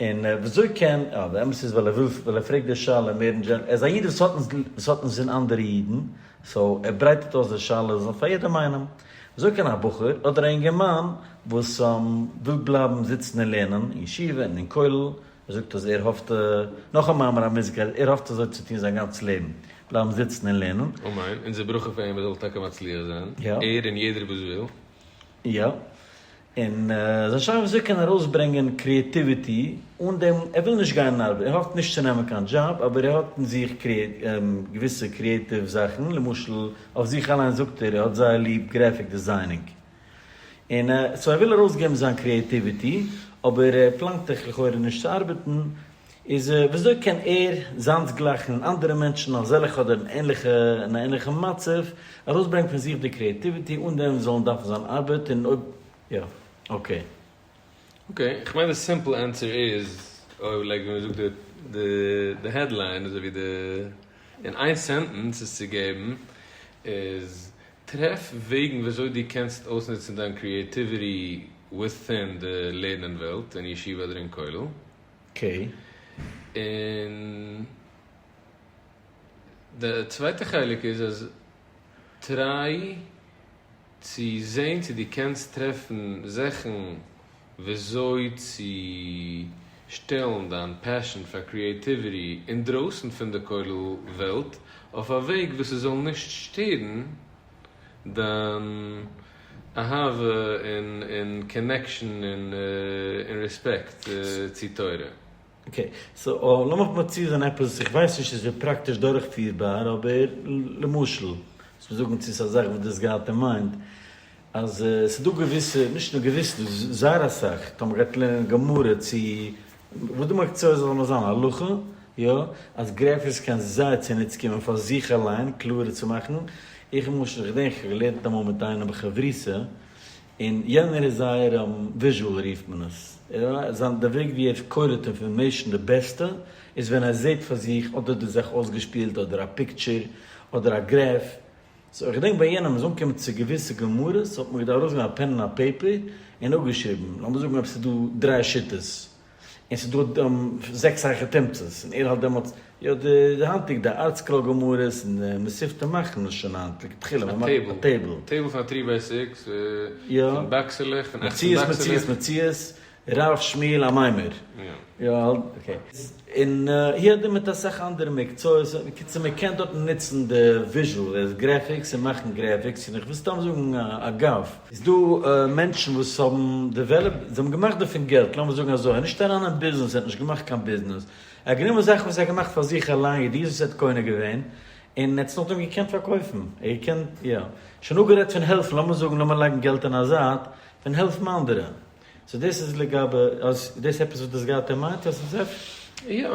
און וויאזוי קען, אה, די אמת איז ווייל ער וויל, ווייל ער פרעגט די שאלה מער אין דזשענעראל, ער איז א איד וואס האט נישט, וואס האט נישט זין אנדערע אידן, סאו ער ברייטערט אויס די שאלה זאל פאר יעדעם איינעם, וויאזוי קען א בחור, אדער א אינגערמאן, וואס וויל בלייבן זיצן און לערנען, אין ישיבה און אין כולל, ער זאגט אז ער האפט, נאך א מאמר המוסגר, אז ער האפט אזוי צו טון זיין גאנץ לעבן, בלייבן זיצן און לערנען. אמן, אונזער ברכה פאר אים ער זאל טאקע מצליח זיין, ער און יעדער וואס וויל. יא. און עס איז שוין וויאזוי ער קען ארויסברענגען קריעטיוויטי אן דעם ער וויל נישט גיין אין ארבעט, ער האפט נישט צו נעמען קיין דזשאב אבער ער האט אין זיך געוויסע קריעטיוו זאכן, למשל אויף זיך אליינס זאגט ער ער האט זייער ליב גרעפיק דעזיינינג און סאו ער וויל ארויסגעבן זיין קריעטיוויטי אבער ער פלאנגט לכאורה נישט צו ארבעטן, איז וויאזוי קען ער, זיינס-גלייכן און אנדערע מענטשן אזעלכע אדער אין ענליכע אין א ענליכן מצב, ארויסברענגן פון זיך די קריעטיוויטי אן דעם זאלן דארפן זיין ארבעט און אויב יא אקעי. אקעי, איך מיין די סימפל ענטסער איז, אויב לייק ווי מען זאגט די די העדליין אזוי ווי די אין איין סענטענס עס צו געבן איז, טרעף וועגן וויאזוי דו קענסט אויסנוצן דיין קריעטיוויטי וויטין די לערנען וועלט אין ישיבה אדער אין כולל. ק, און די צווייטע חלק איז אז טריי צו זעהן צו דו קענסט טרעפן זאכן וויאזוי צו שטעלן דיין פעשען פאר קריעטיוויטי אינדרויסן פון די כולל וועלט אויף א וועג וואס עס זאל נישט שטערן דיין אהבה און און קאנעקשאן און און רעספעקט צו תורה. אקעי, סאו לאמיך מציע זיין עפעס, איך ווייס נישט צו עס איז פראקטיש דורכפירבאר, אבער למשל, וואס מיר זאגן צו עס א זאך וואס דו האסט געהאט אין מיינד, אז עס איז דא געוויסע, נישט נאר געוויסע, דא איז זייער אסאך, טאמער גייט איר לערנען גמרא צו וואס די מקצועות זאל נאר זיין, הלכה, יא, אז גרעפיס קען זייער צוניץ קומען פאר זיך אליין קלארער צו מאכן, איך למשל איך געדענק איך האב געלערנט אמאל מיט איינעם בחבריתא, און יענער איז זייער וויזשועל רופט מען עס, זיין די וועג ווי ער קוירעט אינפארמעישן די בעסטע איז ווען ער זעהט פאר זיך אדער די זאך אויסגעשפילט אדער א פיקטשער אדער א גרעף סאו איך געדענק ביי יענעם מ'איז אנגעקומען צו געוויסע גמרות האט מען געדארפט ארויסגעבן א פען און א פעיפער און אפגעשריבן לאמיר זאגן אויב ס'איז דא דרײַ שיטות און ס'איז דא זעקס הייכע תומצות און ער האלט דעמאלטס יא די היינטיגע די ארטסקרול גמרות און די מסופתא מאכן עס שוין היינט לכתחילה א טעבל טעבל פאר טרי בעיסיקס פון באקסעלעך פון אַכצן באקסעלעך. מציאות מציאות מציאות ר' שמואל א מיימער? יא האלט אקעי. און הי ד מיט אסאך אנדערע מקצועות, בקיצור מען קען דארטן נוצן די וויזשועל עז גרעפיקס און מאכן גרעפיקס, און איך וויל סתם זאגן אגב, איז דא מענטשן וואס האבן דעוועלאפט, זיי האבן געמאכט דערפון געלט, לאמיר זאגן אזוי, ער איז נישט אריין אין ביזנעס, ער האט נישט געמאכט קיין ביזנעס, ער האט גענומען זאכן וואס ער האט געמאכט פאר זיך אליין, ידיעות וואס ער האט קונה געווען, און ער האט עס נאכדעם געקענט פארקויפן, ער האט געקענט, יא. שוין אפגערעדט פון העלפן, לאמיר זאגן, לאמיר לייגן געלט אין א זייט, פון העלפן אנדערע, סאו דאס איז לגבי, אז דאס עפעס וואס דאס גייט ער מיינט אז ס'איז אפשר. יא,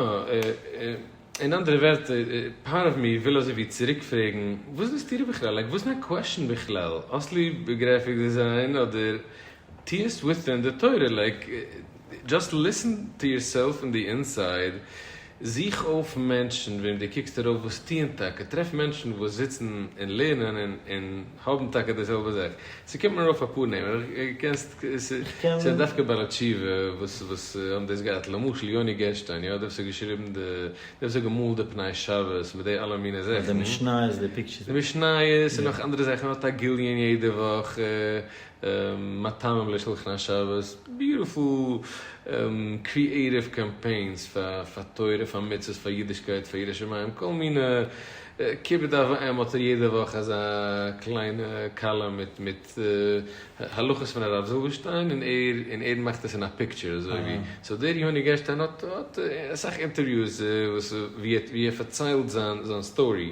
אין אנדערע ווערטער, פארט אוו מי וויל אזוי ווי צוריק פרעגן, וואס ווילסטו דיר בכלל, לייק וואס איז דיין קוועשן בכלל, האסט ליב גרעפיק דעזיין אדער טוהסט וויט'ן די תורה, לייק דזשאסט ליסן טו יורסעלף אין די אינסייד, זוך אויף מענטשן וועם דו קוקסט ארויף וואס טוען טאקע, טרעף מענטשן וואס זיצן און לערנען און האבן טאקע די זעלבע זאך, ס'קומט מיר ארויף אפאר נעמען, אבער איך קענסט ס'איז דווקא בעלי תשובה וואס וואס האבן דאס געהאט, למשל יוני גערשטיין, יא, דער וואס האט געשריבן די, דער וואס האט געמאלט די פני שבת מיט די אלע מינע זאכן, די משניות און נאך אנדערע זאכן, ער האט א גיליון יעדע וואך, מטעמים לשולחן השבת, ביוטיפול קריעטיוו קאמפיינס פאר תורה פאר מצוות פאר אידישקייט פאר יראת שמים כל מיני כיבוד אב ואם האט ער יעדע וואך אזא קליינע קאלום מיט מיט הלכות פון הרב זילבערשטיין און ער און ער מאכט עס אין א פיקטשער אזוי ווי סאו דער יוני גערשטיין האט האט אסאך אינטערוויוס וואס ווי ער פארציילט זיין זיין סטארי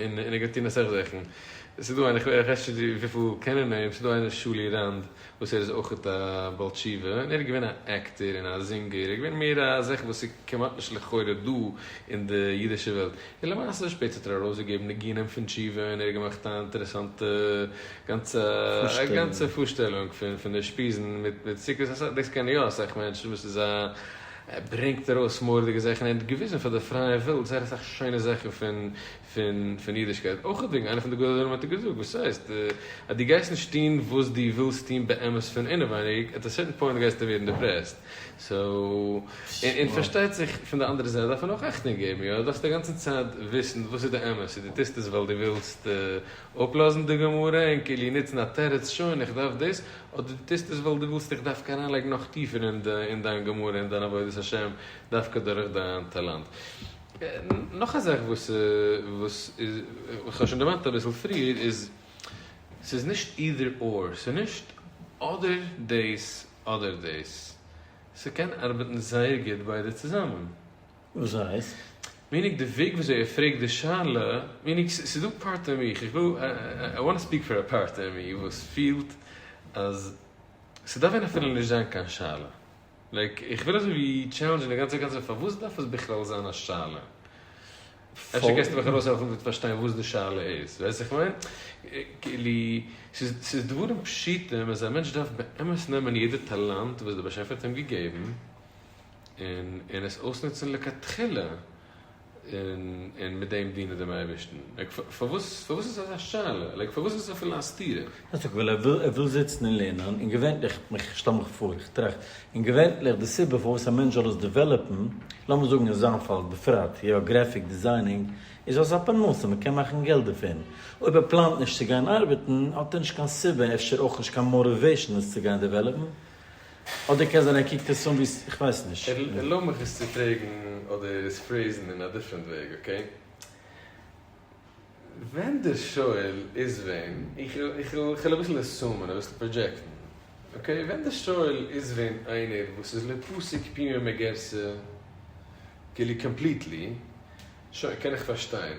און ער גייט טון אסאך זאכן, ס'איז דא איינער איך ווייס נישט וויפיל קענען אים, ס'איז דא איינער שולי רנד וואס ער איז אויכעט א בעל תשובה, און ער איז געווען א עקטער און א זינגער, ער איז געווען מער א זאך וואס איז כמעט נישט לכאורה דא אין די אידישע וועלט, און למעשה שפעטער האט ער ארויסגעגעבן ניגונים פון תשובה און ער האט געמאכט א אינטערעסאנטע גאנצע א גאנצע פארשטעלונג פון פון אושפיזין מיט מיט סוכות, דאס קענען יא אסאך מענטשן וואס איז א ער ברענגט ארויס מורא'דיגע זעכען און האט געוויזען פאר די פרייע וועלט זייער אסאך שיינע זעכען פון פון פון אידישקייט אויך וועגען איינע פון די גדולי הדור האט ער געזאגט וואס הייסט אז די גייסט נישט טוהן וואס די ווילסט טוהן באמת פון אינעווייניג עט א סערטען פוינט גייסטו ווערען דיפרעסט סאו און פארשטייט זיך פון די אנדערע זייט דארף מען אויך אכטונג געבען יא דארפסט אגאנצען צייט וויסען וואס איז די אמת און די טוסט עס ווייל די ווילסט אפלאזן די גמרא און כאילו נוצן א תירוץ שוין איך דארף דאס, אדער דו טוסט עס ווייל דו ווילסט איך דווקא אריינלייגן נאך טיפער אין די אין דיין גמרא אין דיין עבודת השם דווקא דורך דיין טאלאנט. נאך א זאך וואס וואס איז איך האב שוין דערמאנט אביסל פריער איז ס'איז נישט אידער אור ס'איז נישט אדער דאס אדער דאס ס'קען ארבעטן זייער גוט ביידע צוזאמען. וואס הייסט? מינוג די וועג וויאזוי ער פרעגט די שאלה, מינוג ס'איז דא פארט אין מיך, איך וויל, איי וואנט טו ספיעק פאר א פארט אין מיר וואס פילט אז ס'דארף ווען אפילו נישט זיין קיין שאלה, לייק איך וויל אזוי ווי טשעלענדזשען די גאנצע קאנצעפט פארוואס דארף עס בכלל זיין א שאלה? אפשר קענסטו מיך ארויסהעלפן מיט פארשטיין וואס די שאלה איז, ווייסט וואס איך מיין? כאילו ס'איז דברים פשוטים אז א מענטש דארף באמת נעמען יעדע טאלאנט וואס דער באשעפער האט אים געגעבן, און און עס אויסנוצן לכתחילה און און מיט דעם דינען דעם אייבערשטן, לייק פארוואס פארוואס איז אזא שאלה, לייק פארוואס איז עס אפילו א סתירה? הייסט דאך וויל ער וויל ער וויל זיצן און לערנען, און געווענליך, איך שטעל מיך פאר, איך טראכט, און געווענליך די סיבה פארוואס א מענטש זאל עס דעוועלאפן, לאמיר זאגן אין זיין פאל בפרט, יא, גרעפיק דעזיינינג, איז אלס א פרנסה, מען קען מאכן געלט דערפון, אויב ער פלאנט נישט צו גיין ארבעטן, האט ער נישט קיין סיבה, אפשר אויך נישט קיין מאטיוועישן עס צו גיין דעוועלאפן, אדער קען זיין ער קוקט עס אן ווי, כ'ווייס נישט. ערלויב מיך עס צו פרעגן אדער עס פרעיזן אין א דיפרענט וועג, אקעי? ווען דער שואל איז ווען, איך וויל אביסל עסומען, אביסל פראדזשעקטן, אקעי? ווען דער שואל איז ווען איינער וואס איז לא פסיק פימה מגרסא, כאילו קאמפליטלי, שוין, קען איך פארשטיין.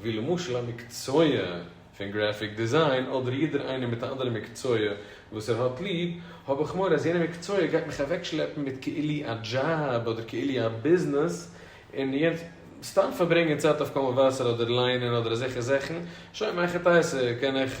ווי למשל א מקצוע פון גרעפיק דיזיין אדער יעדער איינער מיט א אנדערע מקצוע וואס ער האט ליב, האב איך מורא אז יענע מקצוע גייט מיך אוועקשלעפן מיט כאילו א דזשאב אדער כאילו א ביזנעס און סתם פארברענגען צייט אויף קאווע וואסער אדער ליינען אדער אזעלכע זאכן, שוין מאך איך טייער סה קען איך.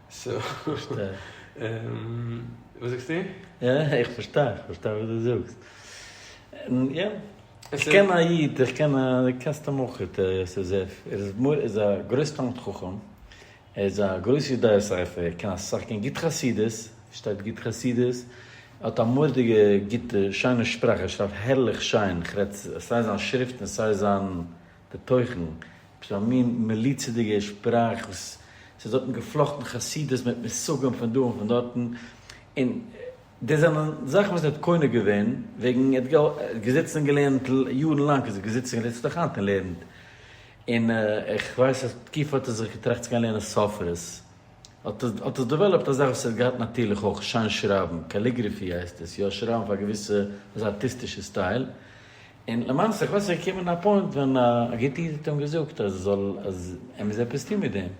פארשטיי. וואס זאגסטו? איך פארשטיי, איך פארשטיי וואס דו זאגסט. יא. איך קען א איד, איך קען א, דו קענסט אים אויך, את ר יוסף. ער איז א גרויס תלמיד חכם. ער איז א גרויס יודע ספר. ער קען אסאך, קען גוט חסידות. פארשטייט גוט חסידות. ער האט א מורא'דיגע גוטע, שיינע שפראך. ער שרייבט הערליך שיין. איך רעד סיי זיין שריפטן, סיי זיין. די תוכן, עפעס א מין מליצה'דיגע שפראך וואס ס'איז דארטן געפלאכטן חסידות מיט מושגים פון דא און פון דארטן, און דאס זענען זאכן וואס ער האט קונה געווען וועגן ער האט געזיצן און געלערנט יארן לאנג איז ער געזיצן און זיצט נאך היינט און לערנט, און איך ווייס אז תקופה האט ער זיך געטראכט צו גיין לערנען ספרות, האט ער האט עס דעוועלאפט א זאך וואס ער האט געהאט נאטירליך אויך, שיין שרייבן, קאליגרעפי הייסט עס, יא שרייבן אויף א געוויסע ארטיסטישע סטייל, און למעשה איך ווייס עס איז געקומען א פוינט ווען א גוט איד האט אים געזאגט אז ער זאל אז ער מוז עפעס טון מיט דעם,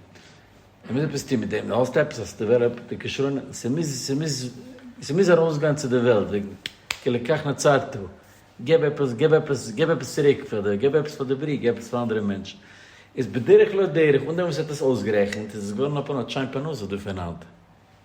ער מוז עפעס טון מיט דעם, די האסט עפעס האסטו דעוועלאפט די כשרון, ס'מוז ס'מוז ס'מוז ארויס גיין צו די וועלט וועגן כי לקח נצרתו, געב עפעס געב עפעס געב עפעס צוריק פאר די געב עפעס פאר די בריאה געב עפעס פאר אנדערע מענטשן, איז בדרך לא דרך אן דעם וואס ער האט עס אויסגערעכנט איז עס געווארן א פאנאט שיין פרנסה דא פון היינט.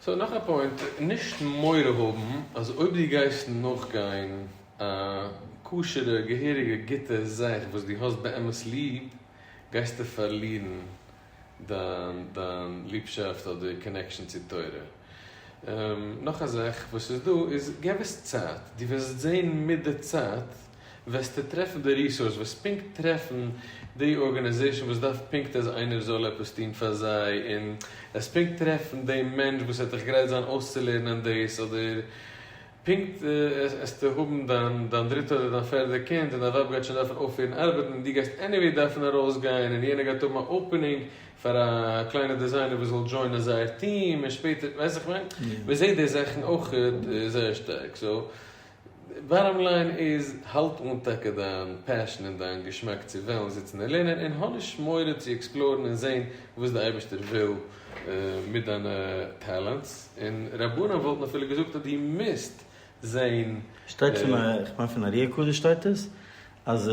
סאו נאך א פוינט, נישט מורא האבן אז אויב דו גייסט נאכגיין א כשר'ע געהעריגע גוטע זאך וואס דו האסט באמת ליב, גייסטו פארלירן דיין דיין ליבשאפט אדער קאנעקשאן צו תורה. נאך א זאך וואס איז דא איז, געב עס צייט, דו וועסט זען מיט די צייט, וועסטו טרעפן די ריסארס וועסט פונקט טרעפן די ארגאניזעישן וואס דארף פונקט אז איינער זאל עפעס טון פאר זיי און וועסט פונקט טרעפן די מענטש וואס וועט דיך גרייט זיין אויסצולערנען דאס אדער פונקט עסטו האבן דיין דיין דריטע אדער דיין פערדע קינד און דיין ווייב גייט שוין דארפן אויפהערן ארבעטן און דו גייסט עניוועי דארפן ארויס גיין און יענער גייט האבן א אופענינג פאר א קליינע דעזיינער וואס זאל דזשוינען זייער טיעם און שפעטער ווייסט וואס איך מיין מען זעהט די זאכן אויכעט זייער שטארק סאו באטאם ליין איז, האלט אן טאקע דיין פעשן און דיין געשמאק צו וועלן זיצן און לערנען, און האב נישט מורא צו עקספלארן און זען וואס די אייבערשטער וויל מיט דיינע טעלענטס, און רבנים וואלטן אפילו געזאגט אז דו מוזט זען. שטייט פון א, איך מיין פון ארי' הקדוש שטייט עס, אז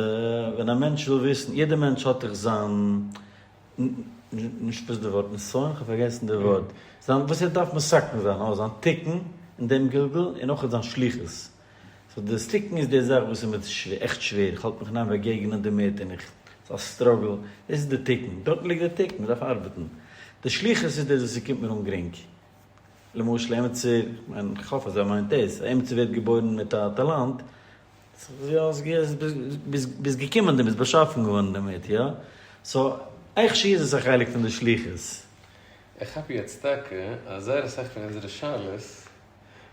ווען א מענטש וויל וויסן, יעדע מענטש האט דאך זיין נישט בס ד ווארט נסיון, כ'האב פארגעסן די ווארט, זיין וואס ער דארף מסכן זיין, אויף זיין תיקון אין דעם גלגול, און אויך זיין שליחות. סאו דאס תיקון איז די זאך וואס איז מיר עכט שווער, איך האלט מיך אין איין באגעגענען דערמיט, און איך, ס'איז א סטראגל, דאס איז די תיקון, דארט ליגט די תיקון, מ'דארף ארבעטן. די שליחות איז דאס וואס ס'קומט מיר אן גרינג. למשל עמיצער, כ'מיין, כ'האף אז ער מיינט דאס, עמיצער ווערט געבוירן מיט א טאלאנט, ביסט געקומען דערמיט, ביסט באשאפן געווארן דערמיט, יא? סאו, עכ ש איז עס א חלק פון די שליחות. איך כאפ יעצט טאקע אז זייער אסאך פון אונזערע שאלות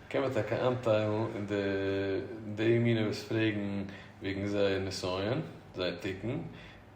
קען מען טאקע איינטיילן אין די די מינע וואס פרעגן וועגן זייער נסיון, זייער תיקון,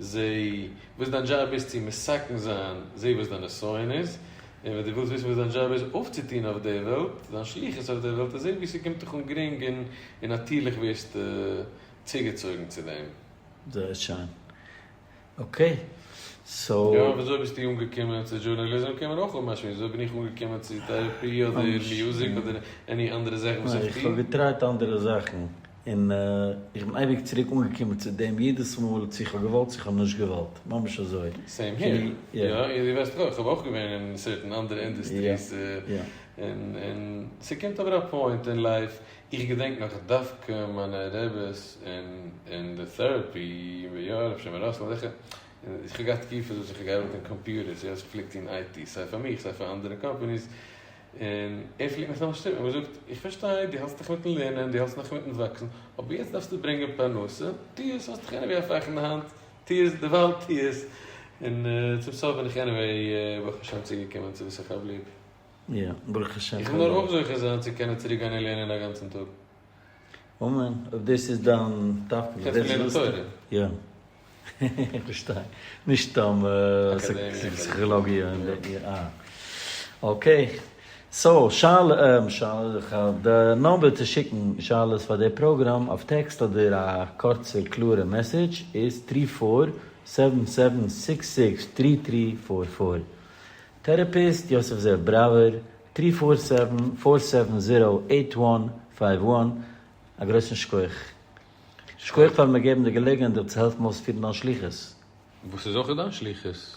זע וואס דיין דזשאב איז צו מסכן זיין, זע וואס דיין נסיון איז, און ווען דו ווילסט וויסן וואס דיין דזשאב איז אויפצוטון אויף דער וועלט, דיין שליחות אויף דער וועלט, זע וואו ס'קומט דיך אן גרינג און נאטירליך ווערסטו צוגעצויגן צו דעם. זייער שיין. אקעי, סאו. יא, וויאזוי ביסטו אנגעקומען צו דזשורנאליזם קען מען אויך אפמשמעסן, וויאזוי בין איך אנגעקומען צו טערעפי אדער מיוזיק אדער עני אנדערע זאך וואס איך טו? איך האב געטרייט אנדערע זאכן. און איך בין אייביג צוריק אנגעקומען צו דעם יעדעס מאל צו איך האב געוואלט צו איך האב נישט געוואלט, ממש אזוי. סעים העיר, יא און דו וועסט אויך, כ'האב אויך געווען אין סערטען אנדערע אינדעסטריס, און און ס'קומט אבער א פוינט אין לייף, איך געדענק נאך דווקא מיינע רעבעס אין אין די טעראפי, יא הרב שמעון ראסל זיכער, און איך האב געהאט תקופות וואס איך האב געארבעט אין קאמפיוטערס, יא איך פלעג טון IT, סיי פאר מיך סיי פאר אנדערע קאמפעניס, און ער פלעגט מיך נאכנישט שטופן, אבער געזאגט, איך פארשטיי, דו האלטסט דיך מיטן לערנען, דו האלטסט נאך מיטן וואקסן, אבער יעצט דארפסטו ברענגען פרנסה, טו עס, האסט דאך עניוועי א פאך אין די האנט, טו עס, דערווייל טו עס, און צום סוף בין איך עניוועי ברוך השם צוגעקומען צו וואס איך האב ליב. יא, ברוך השם. איך וויל נאר אויך זוכה זיין צו קענען צוריקגיין און לערנען א גאנצן טאג. אמן, אויב דאס איז דיין תפקיד, קענסט מיר לערנען תורה. יא. איך פארשטיי. נישט סתם פסיכאלאגיע. אה. אקעי. סאו, שאל, שאלעך, די נומבער צו שיקן שאלות פאר די פראגראם אויף טעקסט אדער א קורצע קלארע מעסעדזש איז טרי פאר סעווען סעווען סיקס סיקס טרי טרי פאר פאר. טערעפיסט יוסף זאב בראווער. טרי פאר סעווען פאר סעווען זירא עיט וואן פייוו וואן א גרויסן שכח. שכח פארן מיר געבן די געלעגנהייט דיר צו העלפן אויספירן דיין שליחות. וואס איז אויך דיין שליחות.